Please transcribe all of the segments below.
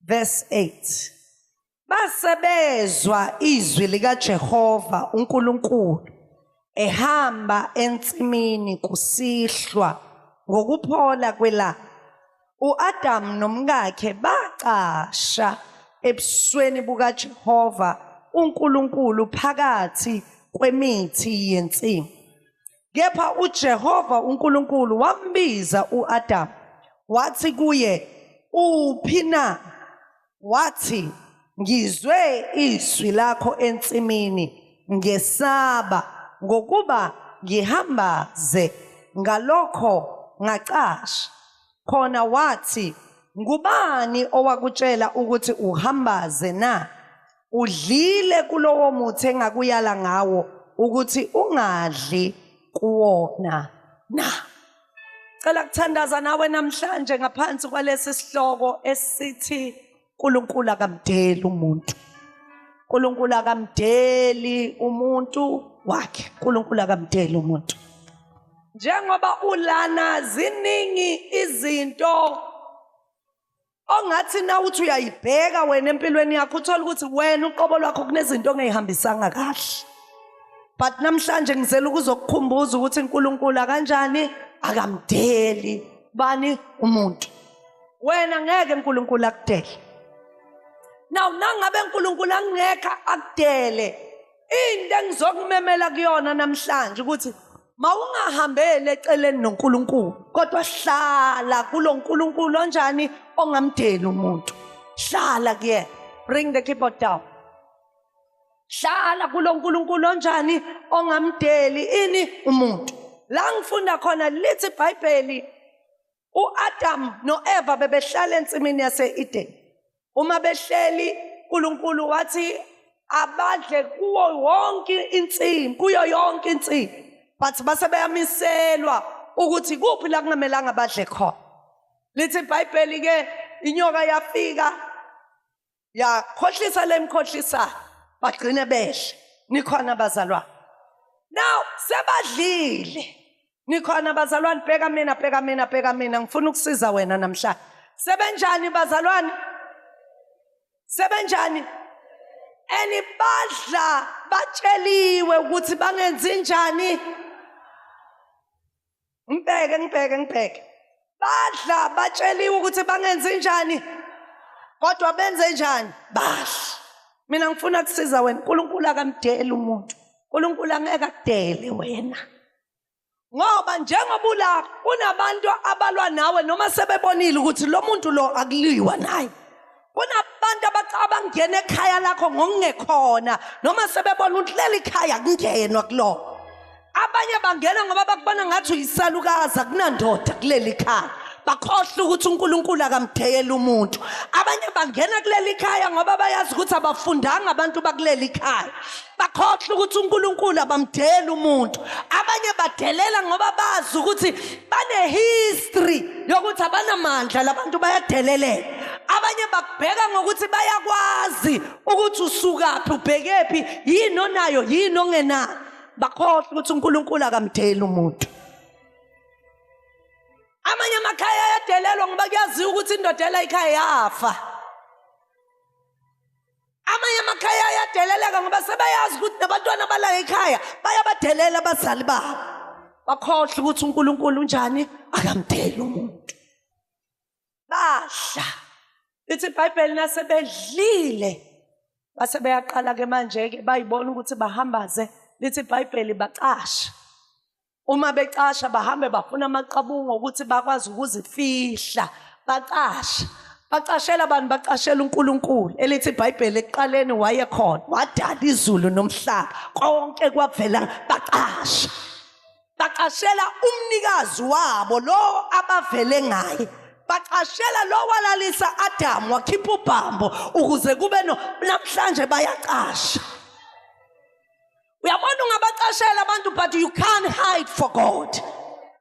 verse 8 base bezwa izwi likaJehova uNkulunkulu ehamba ensimini kusihlwa ngokuphola kwelanga uAdam nomkakhe bacasha ebusweni bukaJehova uNkulunkulu phakathi kwemithi yensimu Kepha uJehova uNkulunkulu wambiza uAdamu wathi kuye uphi na? Wathi ngizwe izwi lakho ensimini ngesaba ngokuba ngihambaze ngalokho ngacasha khona wathi ngubani owakutshela ukuthi uhambaze na udlile kulowo muthi engakuyala ngawo ukuthi ungadli kuwona na cela kuthandaza nawe namhlanje ngaphansi kwalesi sihloko esithi uNkulunkulu akamdeli umuntu uNkulunkulu akamdeli umuntu wakhe uNkulunkulu akamdeli umuntu njengoba ulana ziningi izinto ongathi na uthi uyayibheka wena empilweni yakho uthola ukuthi wena uqobo lwakho kunezinto ongeyihambisanga kahle but namhlanje ngizela ukuzokukhumbuza ukuthi uNkulunkulu akanjani akamdeli bani umuntu wena ngeke uNkulunkulu akudele now nangabe uNkulunkulu angekho akudele Into engizokumemela kuyona namhlanje ukuthi mawungahambeli eceleni noNkulunkulu kodwa hlala kuloNkulunkulu onjani ongamdeli umuntu. Hlala kuyena. Bring the keyboard down. Hlala kuloNkulunkulu onjani ongamdeli ini umuntu. La ngifunda khona lithi iBhayibheli uAdam noEva bebehlala ensimini yaseEden uma behleli uNkulunkulu wathi abadle kuwo wonke insimi kuyo yonke insimi but base beyamiselwa ukuthi kuphi la kungamelanga badle khona lithi ibhayibheli ke inyoka yafika yakhohlisa lemkhohlisa bagcine behle nikhona abazalwane now sebadlile nikhona abazalwane bheka mina bheka mina bheka mina ngifuna ukusiza wena namhlanje sebenjani bazalwane sebenjani and badla batsheliwe ukuthi bangenzi njani ngibheke ngibheke ngibheke badla batsheliwe ukuthi bangenzi njani kodwa benze njani badla mina ngifuna kusiza wena unkulunkulu akamdeli umuntu unkulunkulu angeke akudele wena ngoba njengoba ulapha kunabantu abalwa nawe noma sebebonile ukuthi lo muntu lo akuliwa naye kunabantu abathi abangena ekhaya lakho ngokungekhona noma sebebona ukuthi leli khaya kungenwa kulona abanye bangena ngoba bakubona ngathi uyisalukazi akunandoda kuleli khaya bakhohle ukuthi uNkulunkulu akamdeyela umuntu abanye bangena kuleli khaya ngoba bayazi ukuthi abafundanga abantu bakuleli khaya bakhohlwa ukuthi uNkulunkulu abamdeli umuntu abanye badelela ngoba bazi ukuthi banehistory yokuthi abanamandla labantu bayadeleleka abanye bakubheka ngokuthi bayakwazi ukuthi usukaphi ubhekephi yini onayo yini ongenayo bakhohlwa ukuthi uNkulunkulu akamdeli umuntu amanye amakhaya ayadelelwa ngoba kuyaziwa ukuthi indoda ela ikhaya yafa amanye amakhaya ayadeleleka ngoba sebeyazi ukuthi nabantwana bala ekhaya bayabadelela abazali babo bakhohlwa ukuthi unkulunkulu unjani akamdeli umuntu badla lithi ibhayibheli nasebedlile base beyaqala-ke manje-ke bayibona ukuthi bahambaze lithi ibhayibheli bacasha uma becasha bahambe bafuna amaqabunga ukuthi bakwazi ukuzifihla bacasha bacashela abantu bacashela uNkulunkulu elithi iBhayibheli ekuqaleni wayekhona wadala izulu nomhlaba konke kwavela bacasha bacashela umnikazi wabo lo abavele ngaye bacashela lo walalisa Adam wakhipha ubhambo ukuze kube no namhlanje bayacasha uyabona ungabacashela abantu but you can't hide for god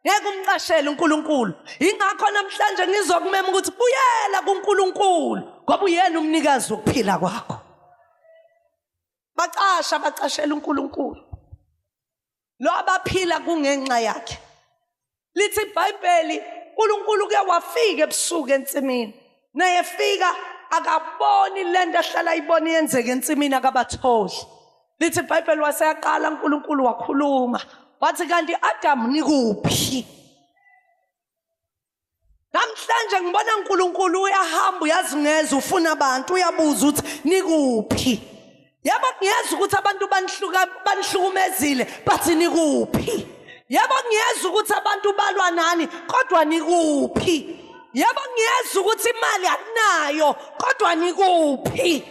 ngeke umcashele unkulunkulu yingakho namhlanje ngizokumema ukuthi buyela kunkulunkulu ngoba uyena umnikazi wokuphila kwakho bacasha bacashela unkulunkulu lo abaphila kungenxa yakhe lithi ibhayibheli unkulunkulu kuye wafika ebusuku ensimini naye efika akaboni le nto ahlala ayibona yenzeka ensimini akabatholi lithi ibhayibheli waseyaqala unkulunkulu wakhuluma wathi kanti adamu nikuphi Namhlanje ngibona uNkulunkulu uyahamba uyazingeza ufuna abantu uyabuza ukuthi nikuphi. Yebo ngiyeza ukuthi abantu banihluka banihlukumezile bathi nikuphi. Yebo ngiyeza ukuthi abantu balwa nani kodwa nikuphi. Yebo ngiyeza ukuthi imali akunayo kodwa nikuphi.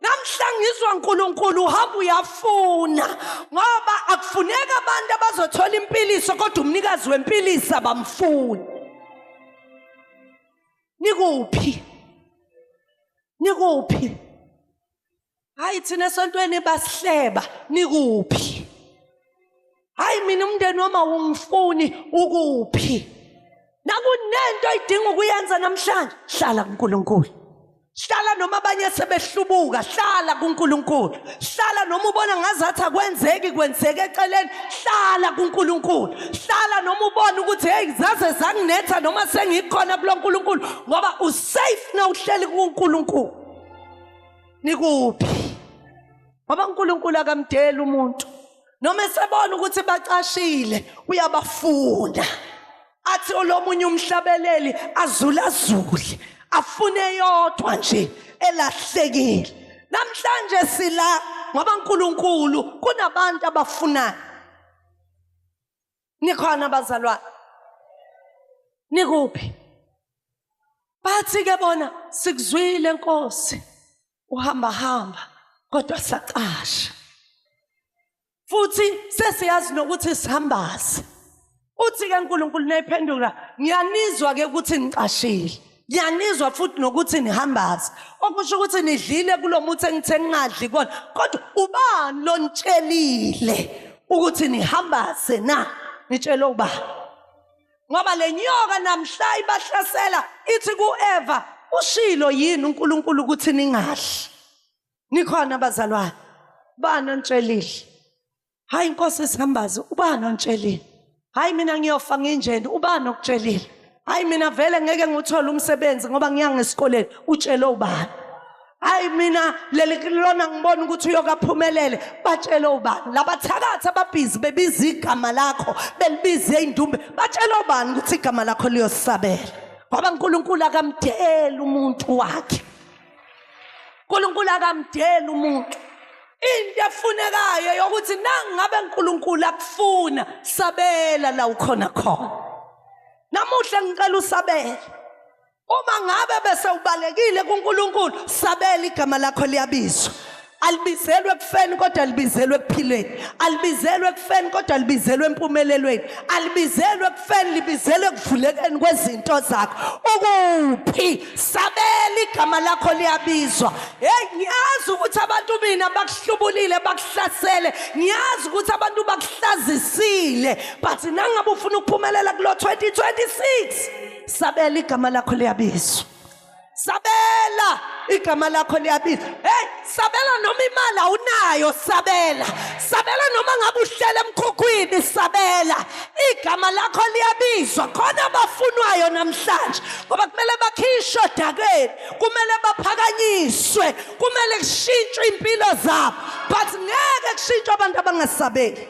namhla ngizwa uNkulunkulu uhamba uyafuna ngoba akufuneka abantu abazothola impiliso kodwa umnikazi wempilisa bamfuni nikuphi nikuphi hayi thina esontweni basihleba nikuphi hayi mina umndeni wami awungifuni ukuphi nakunento oyidinga ukuyenza namhlanje hlala kuNkulunkulu hlala noma abanye sebehlubuka hlala kuNkulunkulu hlala noma ubona ngazathi akwenzeki kwenzeke eceleni hlala kuNkulunkulu hlala noma ubona ukuthi hey zaze zanginetha noma sengikhona kuloNkulunkulu ngoba usafe na uhleli kuNkulunkulu nikuphi ngoba uNkulunkulu akamdeli umuntu noma esebona ukuthi bacashile uyabafuna athi olomunye umhlabeleli azulazule afune yodwa nje elahlekile namhlanje sila ngoba uNkulunkulu kunabantu abafunayo nikhona abazalwane nikuphi bathi ke bona sikuzwile nkosi uhamba hamba kodwa sacasha futhi sesiyazi nokuthi sihambaze uthi ke uNkulunkulu nayiphendula ngiyanizwa ke ukuthi ngicashile ngiyanizwa futhi nokuthi nihambaza okusho ukuthi nidlile kulo muthi engithe ningadli kona kodwa ubani lonitshelile ukuthi nihambaze na nitshele uba ngoba le nyoka namhla ibahlasela ithi ku-eva ushilo yini unkulunkulu ukuthi ningadli nikhona abazalwane bani onitshelile hayi inkosi isambazi ubani ontshelile hayi mina ngiyofa nginjeni ubani okutshelile hayi mina vele ngeke ngithole umsebenzi ngoba ngiya ngesikoleni utshele ubani hayi mina leli lona ngibona ukuthi uyokaphumelele batshele ubani labathakathi ababhizi bebiza igama lakho belibize indumbe batshele ubani ukuthi igama lakho liyosabela ngoba uNkulunkulu akamdeli umuntu wakhe uNkulunkulu akamdeli umuntu into efunekayo yokuthi nangabe uNkulunkulu akufuna sabela la ukhona khona namuhla ngicela usabele uma ngabe bese ubalekile kuNkulunkulu sabela igama lakho liyabizwa alibizelwe ekufeni kodwa libizelwe ekuphileni alibizelwe ekufeni kodwa libizelwe empumelelweni alibizelwe ekufeni libizelwe ekuvulekeni kwezinto zakho ukuphi sabela igama lakho liyabizwa heyi ngiyazi ukuthi abantu mina bakuhlubulile bakuhlasele ngiyazi ukuthi abantu bakuhlazisile but nangabe ufuna ukuphumelela kulo 2026 sabela igama lakho liyabizwa sabela igama lakho liyabiza hey sabela noma imali awunayo sabela sabela noma ngabe uhlela emkhukhwini sabela igama lakho liyabizwa khona abafunwayo namhlanje ngoba kumele bakhishwe odakeni kumele baphakanyiswe kumele kushintshwe impilo zabo but ngeke kushintshwe abantu abangasabeli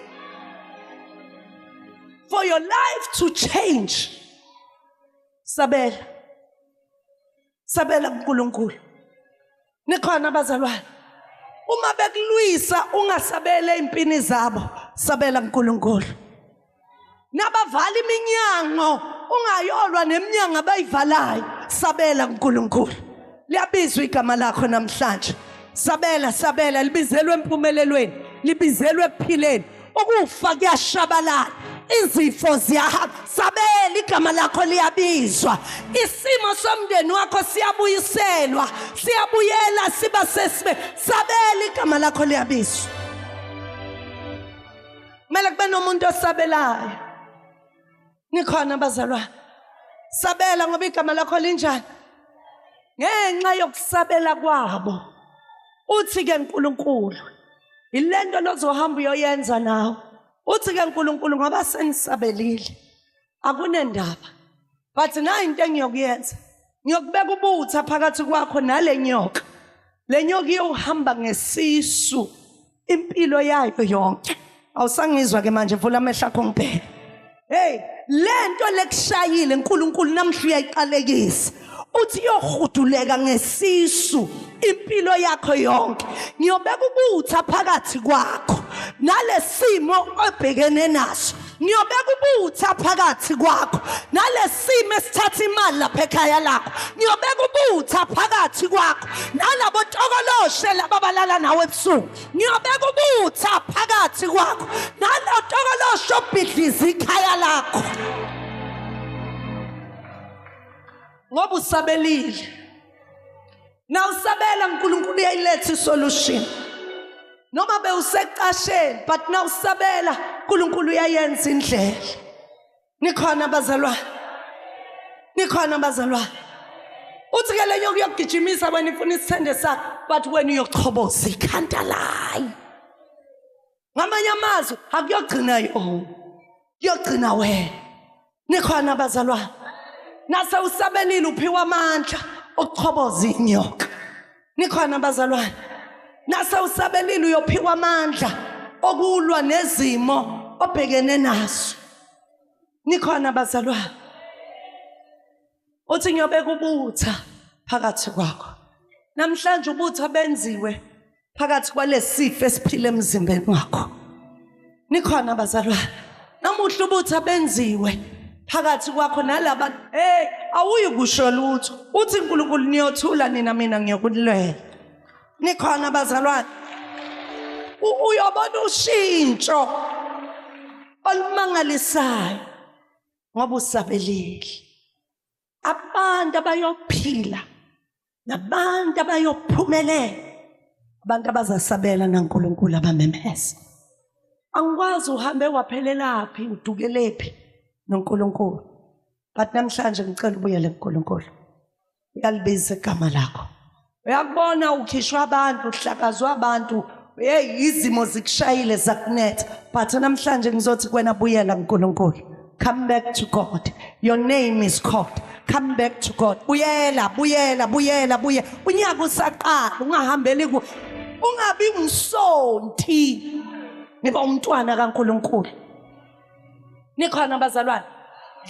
for your life to change sabela sabela kuNkulunkulu nikhona abazalwane uma bekulwisa ungasabele impini zabo sabela kuNkulunkulu nabavala iminyango ungayolwa neminyango abayivalayo sabela kuNkulunkulu liyabizwa igama lakho namhlanje sabela sabela libizelwe empumelelweni libizelwe ekuphileni ukufa kuyashabalala izifo ziyahamba sabela igama lakho liyabizwa isimo somndeni wakho siyabuyiselwa siyabuyela siba sesibe sabela igama lakho liyabizwa kumele kube nomuntu osabelayo nikhona bazalwane sabela ngoba igama lakho linjani ngenxa yokusabela kwabo uthi ke uNkulunkulu ilento lozohamba uyoyenza nawe uthi ke uNkulunkulu ngoba senisabelile akunendaba but nayi into engiyokuyenza ngiyokubeka ubutha phakathi kwakho nale nyoka le nyoka iyohamba ngesisu impilo yayo yonke awusangizwa ke manje vula amehlo akho ngibheke hey lento lekushayile uNkulunkulu namhla uyayiqalekisa uthi yohuduleka ngesisu impilo yakho yonke ngiyobeka ukutha phakathi kwakho nalesimo obhekene naso ngiyobeka ubutha phakathi kwakho nalesimo esithatha imali lapha ekhaya lakho ngiyobeka ubutha phakathi kwakho nalabo tokoloshe laba balala nawe ebusuku ngiyobeka ubutha phakathi kwakho nalo tokoloshe obhidliza ikhaya lakho ngoba usabelile na usabela uNkulunkulu uyayiletha isolution noma bewusecasheni but na usabela uNkulunkulu uyayenza indlela nikhona bazalwane nikhona bazalwane uthi ke lenye ukuyogijimisa wena ifuna isithende sakho but wena uyochoboza ikhanda layo ngamanye amazwi akuyogcina yona kuyogcina wena nikhona abazalwane nase usabelile uphiwa amandla okuchoboza inyoka nikhona abazalwane nase usabelile uyophiwa amandla okulwa nezimo obhekene nazo nikhona abazalwane uthi ngiyobeka ubutha phakathi kwakho namhlanje ubutha benziwe phakathi kwalesifo esiphila emzimbeni wakho nikhona bazalwane namuhla ubutha benziwe phakathi kwakho nalaba hey awuyi kusho lutho uthi uNkulunkulu niyothula nina mina ngiyokulwela nikhona bazalwane uyobona ushintsho olumangalisayo ngoba usabelile abantu abayophila nabantu abayophumelela abantu abazasabela naNkulunkulu abamemeza angikwazi uhambe waphelelaphi udukelephi noNkulunkulu but namhlanje ngicela ubuyele kuNkulunkulu uyalibiza igama lakho uyakubona ukhishwa abantu uhlakazwa abantu hey izimo zikushayile zakunetha but namhlanje ngizothi kwena buyela nkulunkulu come back to god your name is called come back to god buyela buyela buyela buye unyaka usaqala ungahambeli ku ungabi umsonti ngiba umntwana kankulunkulu nikhona bazalwane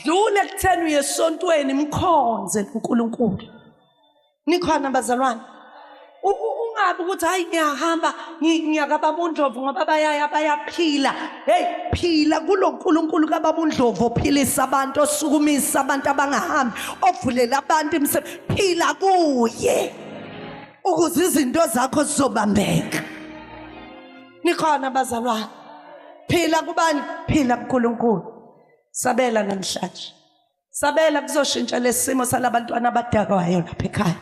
dlule ekutheni uye esontweni mkhonze uNkulunkulu nikhona bazalwane ungabi ukuthi hayi ngiyahamba ngiyakababa undlovu ngoba bayaya bayaphila heyi phila kulo nkulunkulu kababa undlovu ophilisa abantu osukumisa abantu abangahambi ovulela abantu imisebenzi phila kuye ukuze izinto zakho zizobambeka nikhona bazalwane phila kubani phila kuNkulunkulu sabela namhlanje sabela kuzoshintsha lesimo salabantwana abadakwayo lapha ekhaya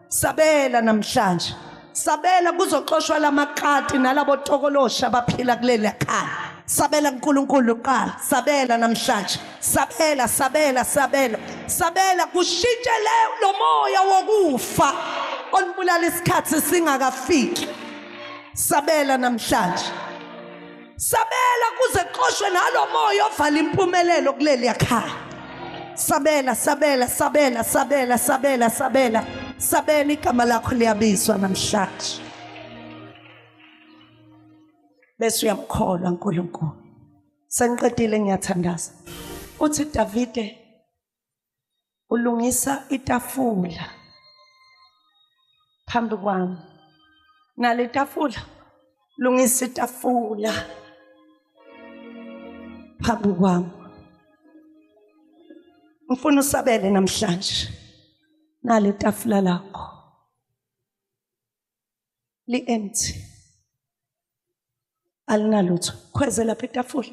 sabela namhlanje sabela kuzoxoshwa lamakati nalabo tokolosha abaphila kuleli khaya sabela uNkulunkulu uqala sabela namhlanje sabela sabela sabela sabela kushintshe le lomoya wokufa olibulala isikhathi singakafiki sabela namhlanje sabela kuze qoshwe nalo moya ovala impumelelo kuleli yakhaya sabela sabela sabela sabela sabela sabela sabela igama lakho liyabizwa namhlanje bese uyamkholwa uNkulunkulu sengiqedile ngiyathandaza uthi Davide ulungisa itafula phambi kwami nale tafula lungisa itafula phambi kwami ngifuna usabele namhlanje nale tafula lakho li empty alinalutho khweze lapha itafula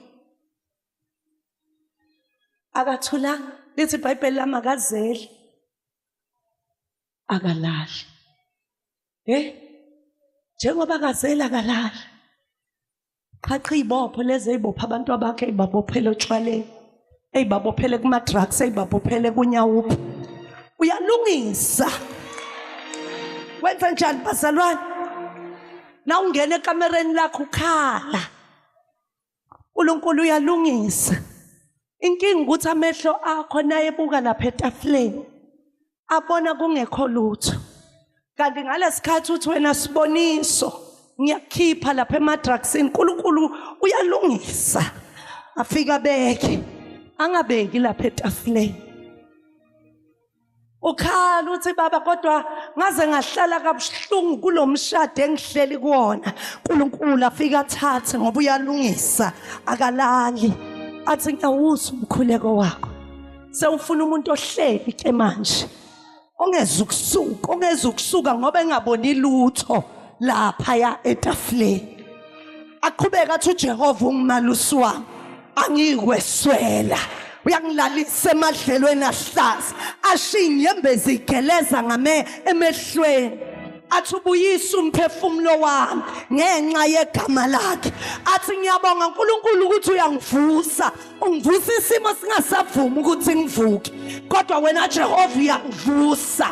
akathulanga lithi ibhayibheli lami akazeli akalali hey njengoba akazeli akalali qhaqha izibopho lezi ezibopha abantu abakhe ezibabophele otshwaleni ezibabophele kuma drugs ezibabophele kunyawuphi uyalungisa wenza njani bazalwane na ungena ekamereni lakho ukhala uNkulunkulu uyalungisa inkinga ukuthi amehlo akho nayebuka lapha etafuleni abona kungekho lutho kanti ngalesikhathi uthi wena siboniso ngiyakhipha lapha emadrugsini uNkulunkulu uyalungisa afika beke angabeki lapha etafuleni ukhala uthi baba kodwa ngaze ngahlala kabuhlungu kulomshado engihleli kuwona uNkulunkulu afika athathe ngoba uyalungisa akalali athi ngiyawuza umkhuleko wakho sewufuna umuntu ohleli ke manje ongeza ukusuka ongeza ukusuka ngoba engaboni lutho lapha ya etafuleni aqhubeke athi uJehova ungimalusi wami angiyikweswela uyangilalisa emadlelweni ahlaza ashiye inyembezi igeleza ngame emehlweni athi ubuyisa umphefumulo wami ngenxa yegama lakhe athi ngiyabonga uNkulunkulu ukuthi uyangivusa ungivusa isimo singasavumi ukuthi ngivuke kodwa wena Jehova uyangivusa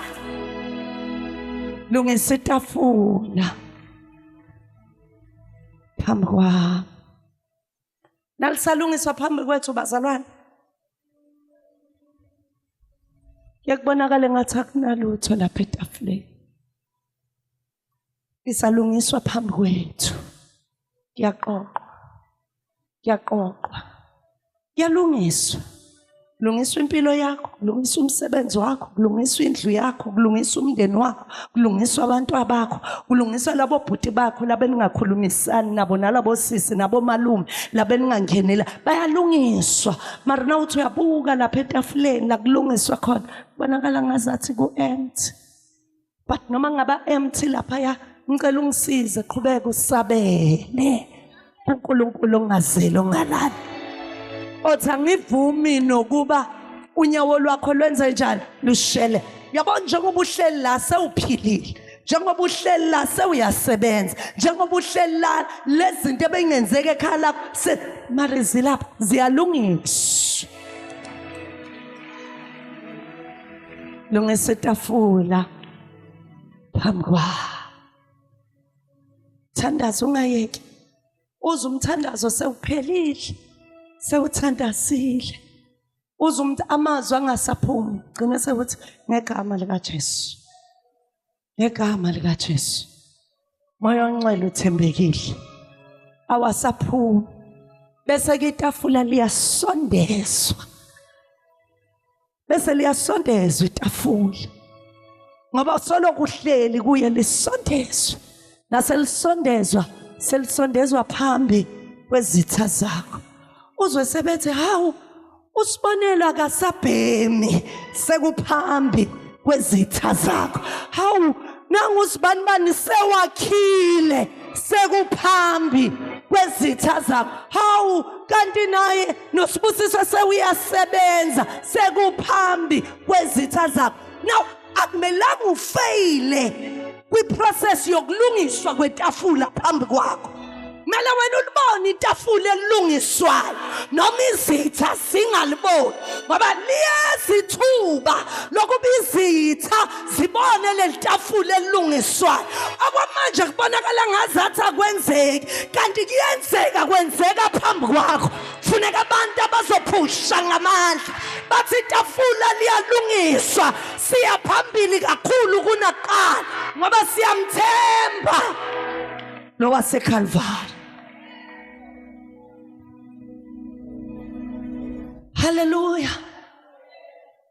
lungisa itafula phambi kwami nalisalungiswa phambi kwethu bazalwane yakubonakala ngathi akunalutho lapha etafuleni lisalungiswa phambi kwethu kuyaqoqwa kuyaqoqwa kuyalungiswa kulungiswa impilo yakho kulungiswa umsebenzi wakho kulungiswa indlu yakho kulungiswa umndeni wakho kulungiswa abantu abakho kulungiswa labo bhuti bakho labeningakhulumisani nabo nalabo sisi nabo malume labeningangenela bayalungiswa mara na uthi uyabuka lapha etafuleni la kulungiswa khona kubonakala ngazathi ku-empty but noma ngaba empty lapha ya ngicela ungisize qhubeka usabele kuNkulunkulu ongazeli ongalali othi angivumi nokuba unyawo lwakho lwenze njani lushele yabo njengoba uhleli la sewuphilile njengoba uhleli la sewuyasebenza njengoba uhleli la lezinto ebengenzeka ekhaya lakho se mari zilapha ziyalungiswa lungisa itafula phambi kwakho thandaza ungayeki uze umthandazo sewuphelile sewuthandazile uze umuntu amazwi angasaphumi gcina sekuthi ngegama likaJesu ngegama likaJesu moya onxele uthembekile awasaphumi bese ke itafula liyasondezwa bese liyasondezwa itafula ngoba solo kuhleli kuye lisondezwe naselisondezwa selisondezwa phambi kwezitha zakho uzwe sebethi hawu usibonelo akasabhemi sekuphambi kwezitha zakho hawu nangu usibani bani sewakhile sekuphambi kwezitha zakho hawu kanti naye nosibusiso sewuyasebenza sekuphambi kwezitha zakho now akumelanga ufeyile kwiprocess yokulungiswa kwetafula phambi kwakho kumele wena ulibone itafula elilungiswayo noma izitha zingaliboni ngoba liyezithuba lokuba izitha sibone leli tafula elilungiswayo okwamanje kubonakala ngazathi akwenzeki kanti kuyenzeka kwenzeka phambi kwakho kufuneka abantu abazophusha ngamandla bathi itafula liyalungiswa siya phambili kakhulu kunaqala ngoba siyamthemba nowasekhalvari haleluya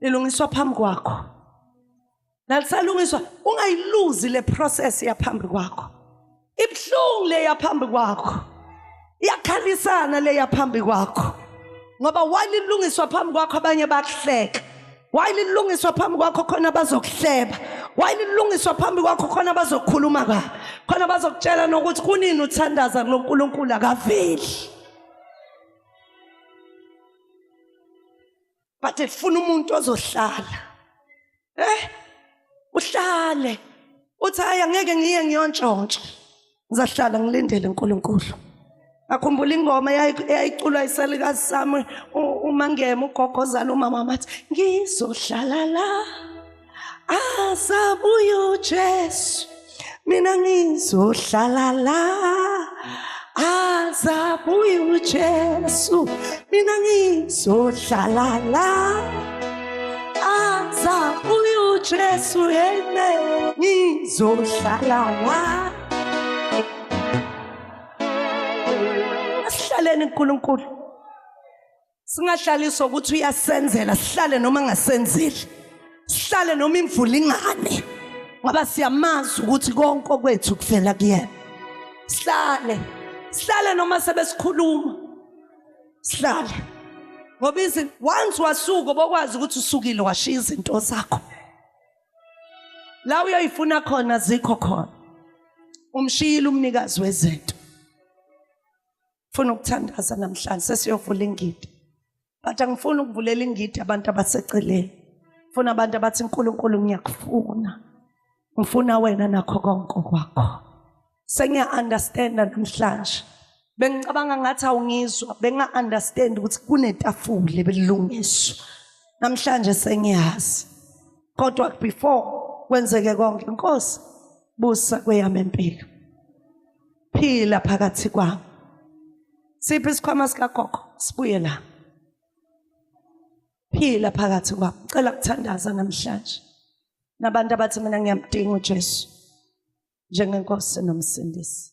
lilungiswa phambi kwakho nalisalungiswa ungayiluzi le process yaphambi kwakho ibuhlungu le yaphambi kwakho iyakhalisana le yaphambi kwakho ngoba walilungiswa phambi kwakho abanye bakuhleka wayililungiswa phambi kwakho khona bazokuhleba wayililungiswa phambi kwakho khona bazokukhuluma ka khona bazokutshela nokuthi kunini uthandaza kulonkulunkulu akaveli but lifuna umuntu ozohlala eh uhlale uthi hayi angeke ngiye ngiyontshontsha ngizahlala ngilindele uNkulunkulu akhumbula ingoma eyayiculwa isalikazi sami umangema ugogozala umama wathi ngizohlala la asabuya uJesu mina ngizohlala la azabuya uJesu mina ngizohlala la azabuya uJesu yena ngizohlala la asihlaleni uNkulunkulu singahlaliswa ukuthi uyasenzela sihlale noma ngasenzeli sihlale noma imvula ingane ngoba siyamazi ukuthi konke okwethu kuvela kuyena sihlale sihlale noma sebesikhuluma sihlale ngoba izinto once wasuka bokwazi ukuthi usukile washiya izinto zakho la uyoyifuna khona zikho khona umshiyile umnikazi wezinto funa ukuthandaza namhlanje sesiyovula ingidi but angifuni ukuvulela ingidi abantu abaseceleni funa abantu abathi uNkulunkulu ngiyakufuna ngifuna wena nakho konke kwakho sengiya understand namhlanje bengicabanga ngathi awungizwa benga understand ukuthi kunetafule belungiswa namhlanje sengiyazi kodwa before kwenzeke konke inkosi busa kweyami impilo phila phakathi kwabo siphi isikhwama sikagogo sibuye la phila phakathi kwabo cela kuthandaza namhlanje nabantu abathi mina ngiyamdinga uJesu njengenkosi nomsindisi